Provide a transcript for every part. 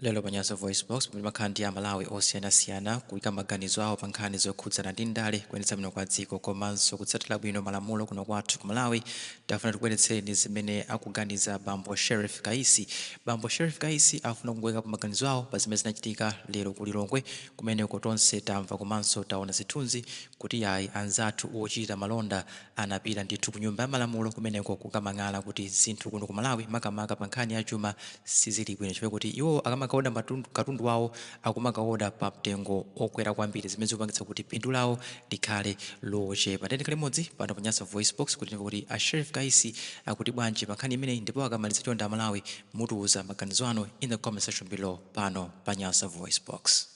Lero pa Nyasa VoiceBox, pomwe timakhala ndi Amalawi osiyanasiyana kuika maganizo awo pa nkhani zokhudzana ndi ndale, kuyendetsa bwino kwa dziko komanso kutsatira bwino malamulo kuno kwathu ku Malawi, tafuna tikubweretsereni zimene akuganiza Bambo Sherrif Kaisi. Bambo Sherrif Kaisi afuna kuikapo maganizo awo pa zimene zinachitika lero ku Lilongwe kumeneko. Tonse tamva komanso taona zithunzi kuti yayi anzathu ochita malonda Anapita ndithu ku nyumba ya malamulo kumeneko kukamang'ala kuti zinthu kuno ku Malawi makamaka pa nkhani ya chuma sizili bwino chifukwa choti iwo akamakaoda katundu wawo akumakaoda pa mtengo okwera kwambiri zimene zikupangitsa kuti phindu lawo likhale lochepa. Tiyeni tikhale limodzi pano pa Nyasa VoiceBox kuti timve kuti a Sheriff Kaisi akuti bwanji pa nkhani imeneyi ndipo akamaliza chonde a Malawi mutiuza maganizo anu in the comment section below pano pa Nyasa VoiceBox.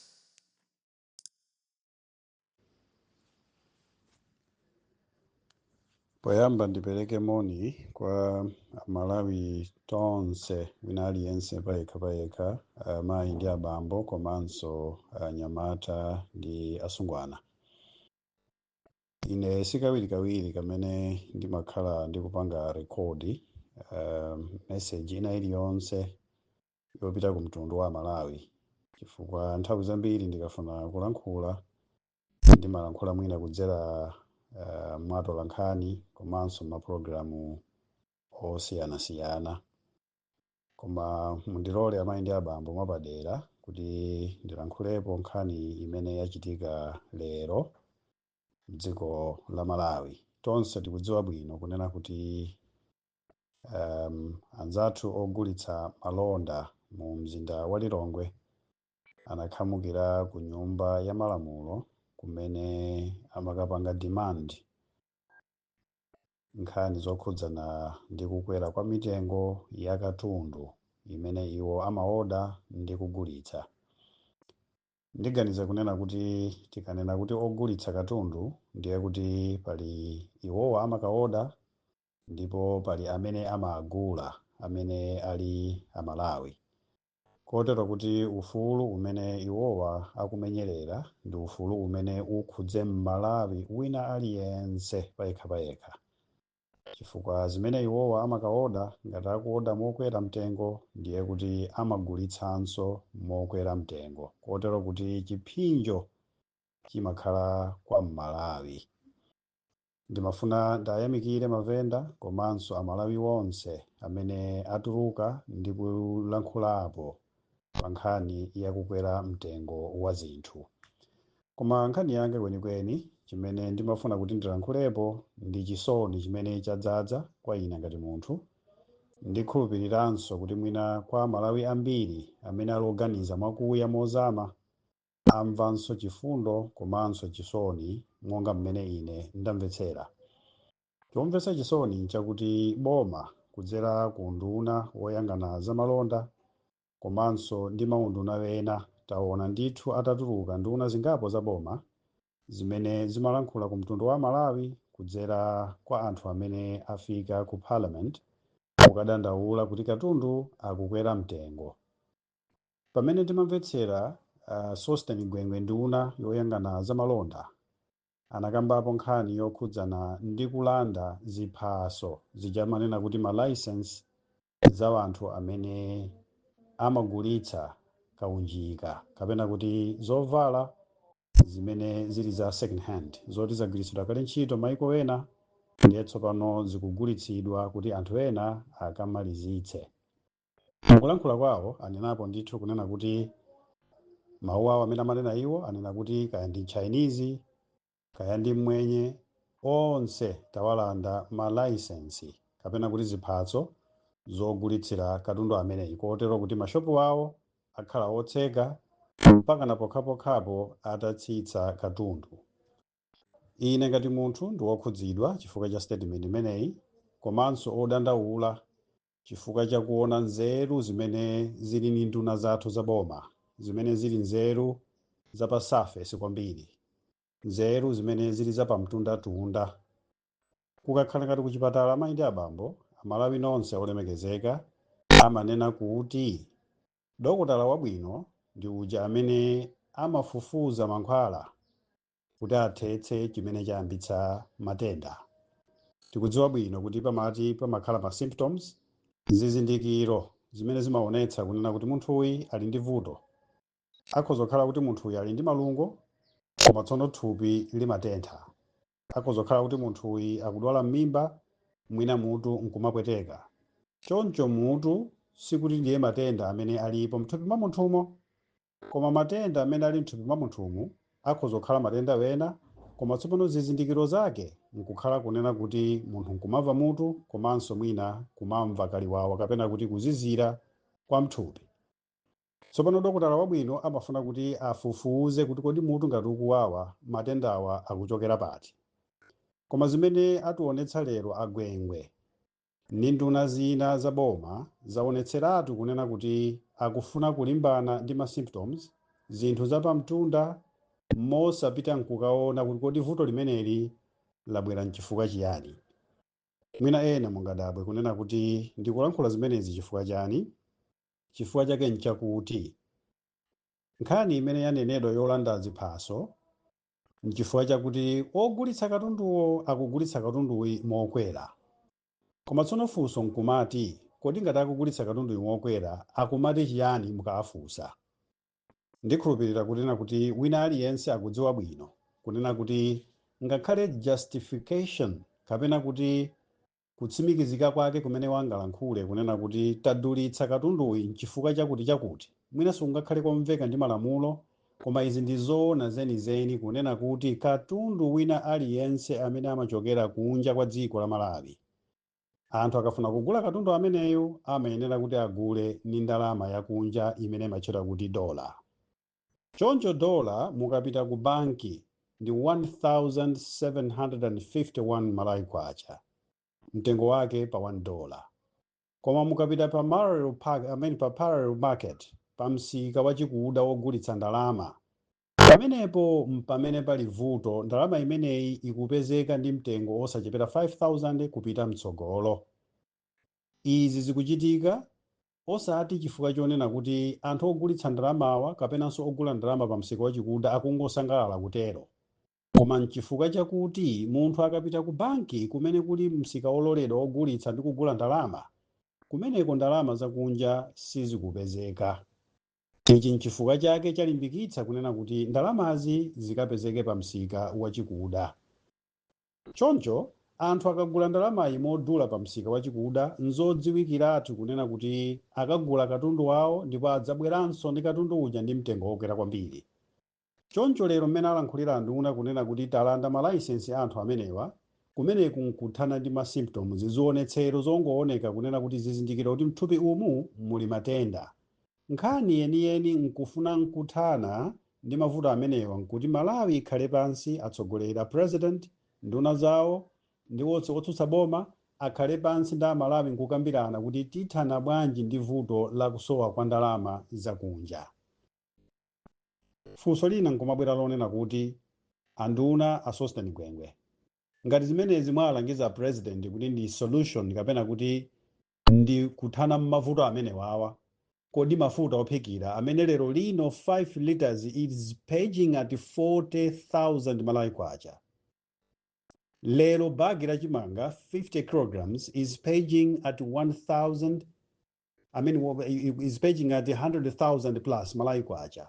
Poyamba ndipereke moni kwa Amalawi tonse wina aliyense payekha payekha, amayi ndi abambo komanso anyamata ndi asungwana. Ine sikawirikawiri kamene ndimakhala ndikupanga rekodi uh, meseji ina iliyonse yopita ku mtundu wa Amalawi chifukwa nthawi zambiri ndikafuna kulankhula ndimalankhula mwina kudzera uh, mwa atolankhani komanso mapulogalamu osiyanasiyana koma mundilole amayi ndi abambo mwapadera kuti ndilankhulepo nkhani imene yachitika lero mdziko la Malawi tonse tikudziwa bwino kunena kuti um, anzathu ogulitsa malonda mu mzinda wa Lilongwe anakhamukira ku nyumba ya malamulo kumene amakapanga demand nkhani zokhudzana ndi kukwera kwa mitengo ya katundu imene iwo amaoda ndi kugulitsa ndiganiza kunena kuti tikanena kuti ogulitsa katundu ndiye kuti pali iwowa amakaoda ndipo pali amene amagula amene ali amalawi kotero kuti ufulu umene iwowa akumenyerera ndi ufulu umene ukhudze mmalawi wina aliyense payekha payekha chifukwa zimene iwowa amakaoda ngati akuoda mokwera mtengo ndiye kuti amagulitsanso mokwera mtengo kotero kuti chiphinjo chimakhala kwa mmalawi Ndimafuna ndayamikire mavenda komanso amalawi onse amene atuluka ndi kulankhulapo pa nkhani ya kukwera mtengo wa zinthu. Koma nkhani yanga kwenikweni chimene ndimafuna kuti ndilankhulepo ndi chisoni chimene chadzadza kwa ine ngati munthu, ndikhulupiliranso kuti mwina kwa amalawi ambiri amene ali oganiza mwakuya mozama amvanso chifundo komanso chisoni monga mmene ine ndamvetsera. Chomvetsa chisoni nchakuti boma kudzera ku unduna woyang'ana zamalonda komanso ndi maunduna ena taona ndithu atatuluka nduna zingapo za boma zimene zimalankhula ku mtundu wa Amalawi kudzera kwa anthu amene afika ku Parliament kukadandaula kuti katundu akukwera mtengo. Pamene ndimamvetsera a Sosten Gwengwe nduna yoyang'ana za malonda anakambapo nkhani yokhudzana ndi kulanda ziphaso zija amanena kuti ma licence za wanthu amene amagulitsa kaunjika kapena kuti zovala zimene zili za second hand zoti zagwiritsidwa kale ntchito maiko ena ndiye tsopano zikugulitsidwa kuti anthu ena akamalizitse Mukulankhula kwawo anenapo ndithu kunena kuti mawu awo amene amanena iwo anena kuti kaya ndi Chinese kaya ndi Mmwenye onse tawalanda malaisensi kapena kuti ziphaso zogulitsira katundu ameneyi kotero kuti mashopu awo akhala otseka mpakana pokhapokhapo atatsitsa katundu. Ine ngati munthu ndi wokhudzidwa chifukwa cha statement imeneyi komanso odandaula chifukwa cha kuona nzeru zimene zili ni nduna zathu za boma zimene zili nzeru za pa surface kwambiri nzeru zimene zili za pamtundatunda kukakhala ngati kuchipatala amayi ndi abambo amalawi nonse olemekezeka amanena kuti dokotala wabwino ndi uja amene amafufuza mankhwala kuti athetse chimene chayambitsa matenda tikudziwa bwino kuti pamati pamakhala ma symptoms zizindikiro zimene zimaonetsa kunena kuti munthuyi ali ndi vuto akhoza kukhala kuti munthuyi ali ndi malungo koma tsono thupi limatentha akhoza kukhala kuti munthuyi akudwala m'mimba mwina mutu nkumapweteka choncho mutu sikuti ndiye matenda amene alipo mthupi mwa munthumo Koma matenda amene ali m'thupi mwa munthumu akhoza kukhala matenda wena, koma tsopano zizindikiro zake nkukhala kunena kuti munthu nkumamva mutu komanso mwina kumamva kaliwawa kapena kuti kuzizira kwa m'thupi. Tsopano dokotala wabwino amafuna kuti afufuze kuti kodi mutu ngati ukuwawa matendawa akuchokera pati. Koma zimene atiwonetsa lero a Gwengwe. Ndi nduna zina za boma zawonetseratu kunena kuti akufuna kulimbana ndi ma symptoms, zinthu za pamtunda, mosapita nkukaona kuti kodi vuto limeneli labwera nchifukwa chiyani. Mwina ena mungadabwe kunena kuti ndikulankhula zimenezi chifukwa chani? Chifukwa chake nchakuti nkhani imene yanenedwa yolanda ziphaso nchifukwa chakuti ogulitsa katunduwo akugulitsa katunduyu mokwera koma tsono funso nkumati kodi ngati akugulitsa katunduyu mokwera akumati chiyani mukawafunsa ndikhulupirira kunena kuti wina aliyense akudziwa bwino kunena kuti ngakhale justification kapena kuti kutsimikizika kwake kumene angalankhule kunena kuti tadulitsa katunduyu n'chifukwa chakuti chakuti, mwina sikungakhale komveka ndi malamulo, koma izi ndi zoona zenizeni kunena kuti katundu wina aliyense amene amachokera kunja kwa dziko la Malawi, anthu akafuna kugula katundu ameneyo amayenera kuti agule ndi ndalama yakunja imene imatchedwa kuti dollar. Choncho dollar mukapita ku banki ndi 1,751 Malawi Kwacha, mtengo wake pa 1 dollar. Koma mukapita pa marrel pack, I mean pa parallel market, pa msika wachikuda wogulitsa ndalama, pamenepo mpamene pali vuto, ndalama imeneyi ikupezeka ndi mtengo osachepera 5,000 kupita mtsogolo. Izi zikuchitika Osati chifukwa chonena kuti anthu ogulitsa ndalamawa kapenanso ogula ndalama pamsika wachikuda akungosangalala kutero, koma n'chifukwa chakuti munthu akapita kubanki kumene kuli msika wololedwa wogulitsa ndi kugula ndalama, kumeneko ndalama zakunja sizikupezeka. Ichi n'chifukwa chake chalimbikitsa kunena kuti ndalamazi zikapezeke pamsika wachikuda. Choncho, anthu akagula ndalamayi modula pamsika wachikuda, n'zodziwikiratu kunena kuti akagula katundu wawo ndipo adzabweranso ndi katundu uja ndi mtengo wokwera kwambiri. Choncho lero mmene alankhulira anduna kunena kuti talanda malaisensi a anthu amenewa, kumeneku n'kuthana ndi ma symptoms, zionetsero zongooneka kunena kuti zizindikiro kuti m'thupi umu muli matenda. Nkhani yeniyeni nkufuna nkuthana ndi mavuto amenewa nkuti Malawi ikhale pansi, atsogoleri, a President, nduna zawo ndi onse otsutsa boma akhale pansi ndi Amalawi nkukambirana kuti tithana bwanji ndi vuto la kusowa kwa ndalama za kunja. Funso lina nkumabwera lonena kuti a nduna, a Sosten Gwengwe, ngati zimenezi mwawalangiza a President kuti ndi solution kapena kuti ndi kuthana mavuto amenewawa kodi mafuta ophikira amene lero lino 5 litres is pegging at 40000 malawi kwacha lero bag la chimanga 50 kilograms is pegging at 1000 I mean, wo- i- i- is pegging at 100,000 plus Malawi kwacha.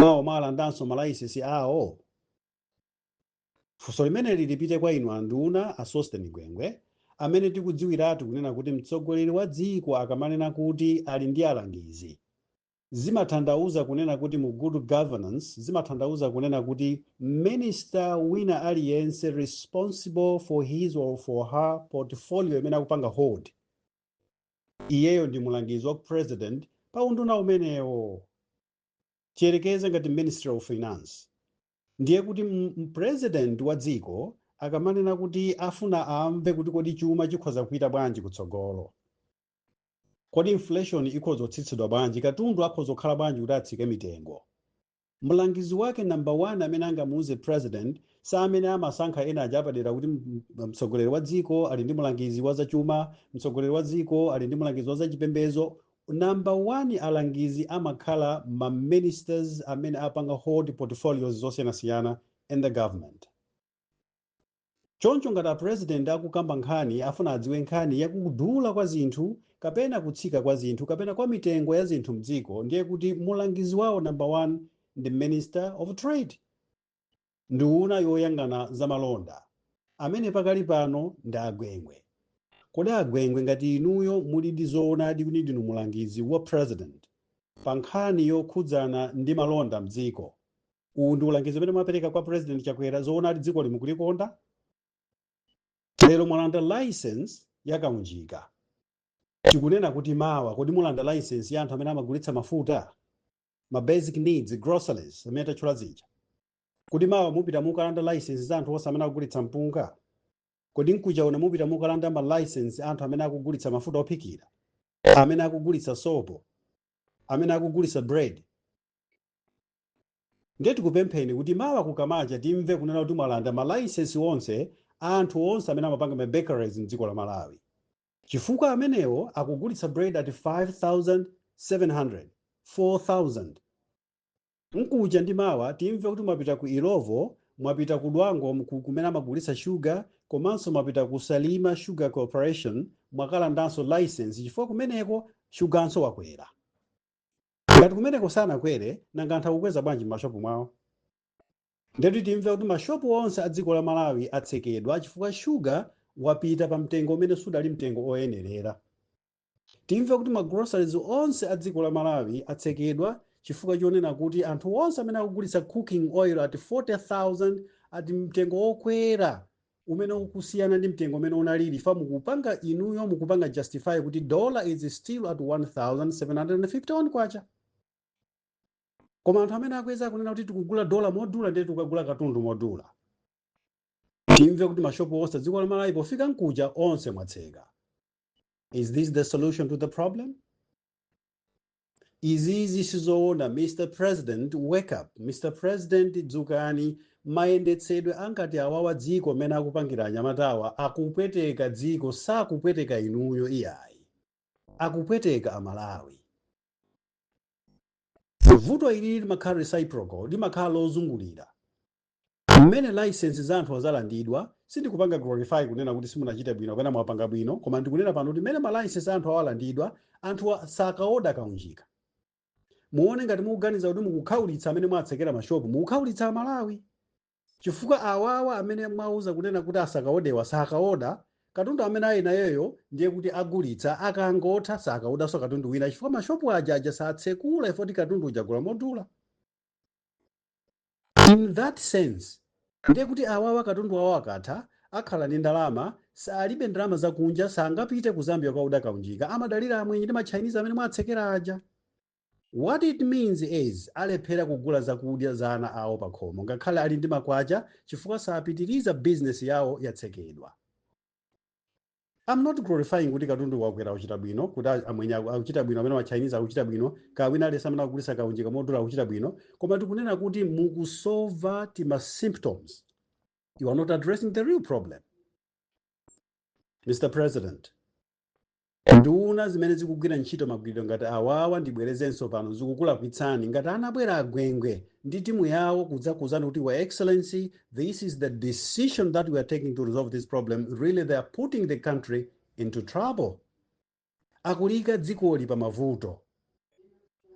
mawa mwalandanso malaisesi awo funso limeneli lipite kwa inu anduna a sosten gwengwe amene tikudziwiratu kunena kuti mtsogoleri wa dziko akamanena kuti ali ndi alangizi zimatanthauza kunena kuti mu good governance zimatanthauza kunena kuti minister wina aliyense responsible for his or for her portfolio imene akupanga hold iyeyo ndi mulangizi wa president pa unduna umenewo tiyerekeze ngati ministry of finance ndiye kuti m- m- president wa dziko akamanena kuti afuna amve kuti kodi chuma chikhoza kupita bwanji kutsogolo kodi inflation ikhoza kutsitsidwa bwanji katundu akhoza kukhala bwanji kuti atsike mitengo mlangizi wake number one amene angamuuze president sa amene amasankha ena aja apadera kuti m- m- mtsogoleri wa dziko ali ndi mlangizi wa zachuma mtsogoleri wa dziko ali ndi mlangizi wa zachipembedzo Number 1 alangizi amakhala ma ministers amene apanga hold portfolios zosiyanasiyana in the government choncho ngati a president akukamba nkhani afuna adziwe nkhani ya kudula kwa zinthu kapena kutsika kwa zinthu kapena kwa mitengo ya zinthu mdziko ndiye kuti mulangizi wawo number 1 ndi minister of trade. Nduna yoyang'ana za malonda amene pakali pano ndi a Gwengwe. Kodi a Gwengwe ngati inuyo mulidi zoonadi kuti ndinu mulangizi wa President pa nkhani yokhudzana ndi malonda mdziko, uwu ndi ulangizi umene mwapereka kwa President Chakwera zoonadi dzikoli mukulikonda? Lero mwalanda licence ya Kaunjika, tikunena kuti mawa kodi mulanda licence ya anthu amene amagulitsa mafuta? ma basic needs groceries amene tatchula zija kodi mawa mupita mukalanda license za anthu onse amene akugulitsa mpunga kodi mkuja uno mupita mukalanda ma license a anthu amene akugulitsa mafuta ophikira amene akugulitsa sopo amene akugulitsa bread ndiye tikupempheni kuti mawa kukamacha timve kunena kuti mwalanda ma license onse a anthu onse amene amapanga ma bakeries mdziko la malawi Chifukwa amenewo akugulitsa bread at 5700, 4000 Mkucha ndi mawa timve kuti mwapita ku Illovo, mwapita ku Dwangwa mku kumene amagulitsa sugar komanso mwapita ku Salima sugar corporation mwakalandanso licence chifukwa kumeneko suganso wakwera. Ngati kumeneko sanakwere nanga anthu akukweza bwanji mmashop mwawo? Ndiye timve kuti ma shop onse a dziko la Malawi atsekedwa chifukwa sugar wapita pa mtengo umene sudali mtengo oyenerera. Timve kuti ma groceries onse a dziko la Malawi atsekedwa chifukwa chonena kuti anthu onse amene akugulitsa cooking oil at 40,000 ati mtengo okwera umene ukusiyana ndi mtengo umene unalili fa mukupanga inuyo mukupanga justify kuti dollar is still at 1751 kwacha. koma anthu amene akukweza akunena kuti tikugula dola modula ndiye tikukagula katundu modula timve kuti mashopu onse dziko la malawi pofika nkucha onse mwatseka is this the solution to the problem izizi sizoona mr president wake up mr president dzukani mayendetsedwe angati awawa dziko mmene akupangira anyamatawa akupweteka dziko sakupweteka inuyo iyayi akupweteka amalawi vuto ilili limakhala reciprocal limakhala lozungulira mmene license za anthu azalandidwa sindikupanga glorify kunena kuti simunachite bwino kapena mwapanga bwino koma ndikunena pano kuti mmene ma license a anthu awalandidwa anthu sakaoda kaunjika muone ngati mukuganiza kuti mukukhaulitsa amene mwatsekera mashopu mukukhaulitsa amalawi Chifukwa awawa amene mwauza kunena kuti asakaodewa sakaoda, katundu amene ali nayeyo ndiye kuti agulitsa, akangotha sakaodanso katundu wina chifukwa mashopu aja aja satsekula ifa kuti katundu uja agula modula. In that sense, ndiye kuti awawa katundu wawo akatha, akhala ndi ndalama, sa alibe ndalama zakunja, sangapite ku Zambia kukaoda kaunjika, amadalira amwenye ndi ma Chinese amene mwatsekera aja. What it means is alephera kugula zakudya za ana awo pakhomo ngakhale ali ndi makwacha chifukwa sapitiriza business yawo yatsekedwa. I'm not glorifying kuti katundu wakwera wachita bwino, kuti a- amwenye aku- akuchita bwino amene ma Chinese akuchita bwino, kaya wina aliyense amene akugulitsa kaunjika modula akuchita bwino, koma tikunena kuti mukusolva tima symptoms. You are not addressing the real problem. Mr. President, Nduna zimene zikugwira ntchito magwiridwe ngati awawa ndibwerezenso pano zikukulakwitsani ngati anabwera a Gwengwe ndi timu yawo kudzakuuzani kuti your excellency this is the decision that we are taking to resolve this problem really they are putting the country into trouble akuliika dzikoli pa mavuto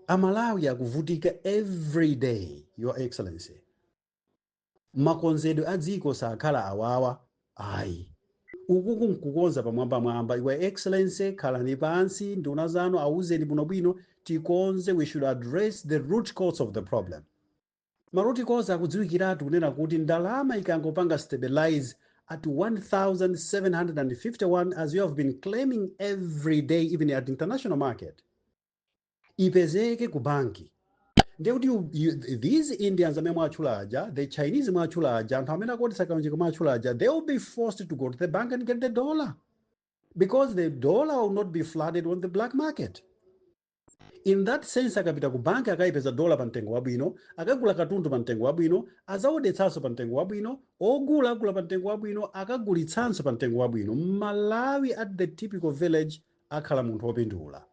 amalawi akuvutika every day your excellency makonzedwe a dziko sakhala awawa ayi ukuku nkukonza pamwambamwamba your excellency khalani pansi nduna zanu awuzeni bwinobwino tikonze we should address the root cause of the problem ma root cause akudziwikiratu kunena kuti ndalama ikangopanga stabilize at 1751 as you have been claiming every day even at international market ipezeke ku banki ndiye kuti these indians amene mwatchula aja the chinese mwatchula aja anthu amene akuodetsa kaunjika mwatchula aja they will be forced to go to the bank and get the dollar because the dollar will not be flooded on the black market in that sense akapita ku banki akayipeza dola pa mtengo wabwino akagula katundu pa mtengo wabwino azaodetsanso pa mtengo wabwino ogula agula pa mtengo wabwino akagulitsanso pa mtengo wabwino mmalawi at the typical village akhala munthu opindula.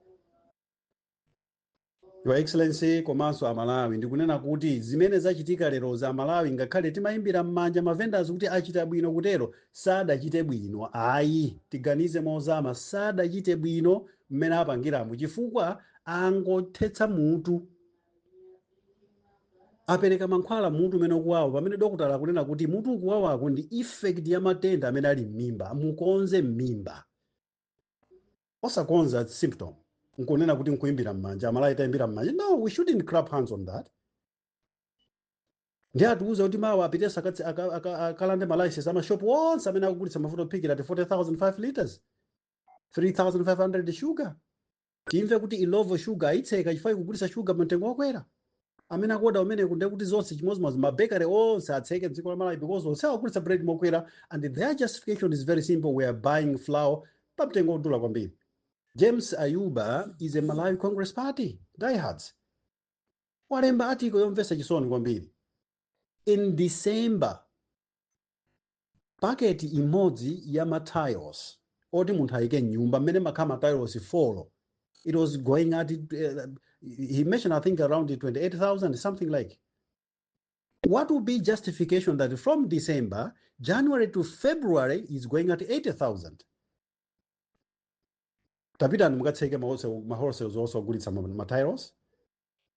Your Excellency komanso a Malawi ndikunena kuti zimene zachitika lerozi a Malawi ngakhale timayimbira mmanja ma vendors kuti achita bwino kutero sadachite bwino ayi tiganize mozama sadachite bwino mmene apangiramu chifukwa angothetsa mutu apereka mankhwala a mutu umene ukuwawa pamene dokotala akunena kuti mutu ukuwawako ndi effect ya matenda amene ali m'mimba mukonze m'mimba osakonza symptom nkunena kuti nkuimbira mmanja amalawi tayimbira mmanja no we shouldn't clap hands on that ndiye atiuza kuti mawa apitenso akatsi- aka- aka- akalande malicense amashopu onse amene akugulitsa mafuta ophikira at 40000 5 liters 3500 sugar Timve kuti Illovo sugar ayitseka chifukwa ikugulitsa sugar pa mtengo wokwera? Amene akuoda kumeneku ndiye kuti zonse chimodzimodzi ma bakery onse atseke mdziko la Malawi because onse akugulitsa bread mokwera and their justification is very simple we are buying flour pa mtengo wodula kwambiri. James Ayuba is a Malawi Congress Party diehards. Walemba article yomvetsa chisoni kwambiri. In December paketi imodzi ya ma tiles oti munthu ayike mnyumba mmene mmakhala ma tiles 4 it was going at he mentioned i think around 28000 something like what would be justification that from december january to february is going at 80000 tapitani mukatseke ma wholesale onse ogulitsa ma- ma tiles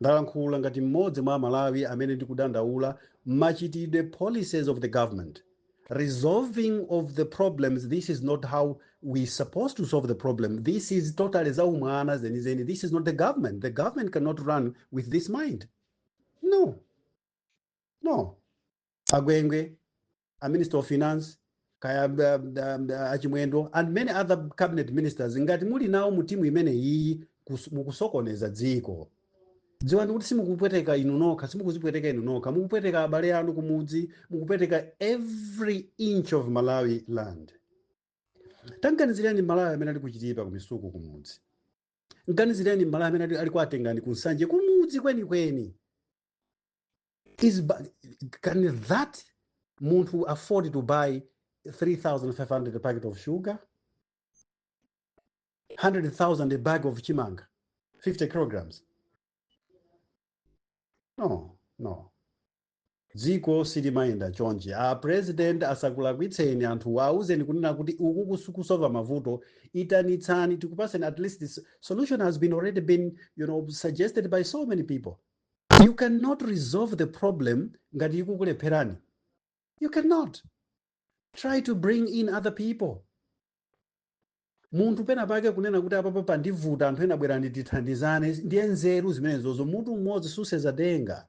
Ndalankhula ngati mmodzi mwa amalawi amene ndikudandaula mmachitidwe policies of the government resolving of the problems this is not how we supposed to solve the problem this is totally zaumwana zenizeni this is not the government the government cannot run with this mind no no agwengwe a minister of finance kaya um, um, a Chimwendo and many other cabinet ministers ngati muli nawo mu timu imene iyi kus- mukusokoneza dziko dziwani kuti simukupweteka inu nokha simukuzipweteka inu nokha mukupweteka abale anu kumudzi mukupweteka every inch of malawi land tam'ganizireni malawi amene ali ku Chitipa ku Misuku kumudzi m'ganizireni malawi amene ali- ali kwa Tengani ku Nsanje kumudzi kwenikweni is bu- can that munthu afford to buy 3500 packet of sugar 100000 a bag of chimanga 50 kilograms no no dziko silimayenda chonje a president asakulakwitseni anthu auzeni kunena kuti uku kusu- kusova mavuto itanitsani tikupaseni at least this solution has been already been you know suggested by so many people You cannot resolve the problem ngati ikukulepherani. You cannot. Try to bring in other people. Munthu pena pake kunena kuti apapa pandivuta anthu ena bwerani tithandizane ndiye nzeru zimenezozo mutu umodzi susenza denga.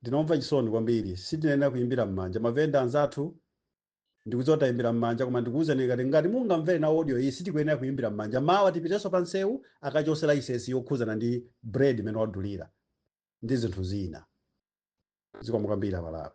Ndine omva chisoni kwambiri. Sitinayenera kuyimbira mmanja mavenda anzathu. Ndikudziwa tayimbira mmanja koma ndikuwuzani ngati ngati mungamvere nawo audio iyi sitikuyenera kuyimbira mmanja. Mawa tipitenso pa nsewu akachose laisensi yokhuzana ndi bread imene wadulira ndi zinthu zina. Zikomo kwambiri a Malawi.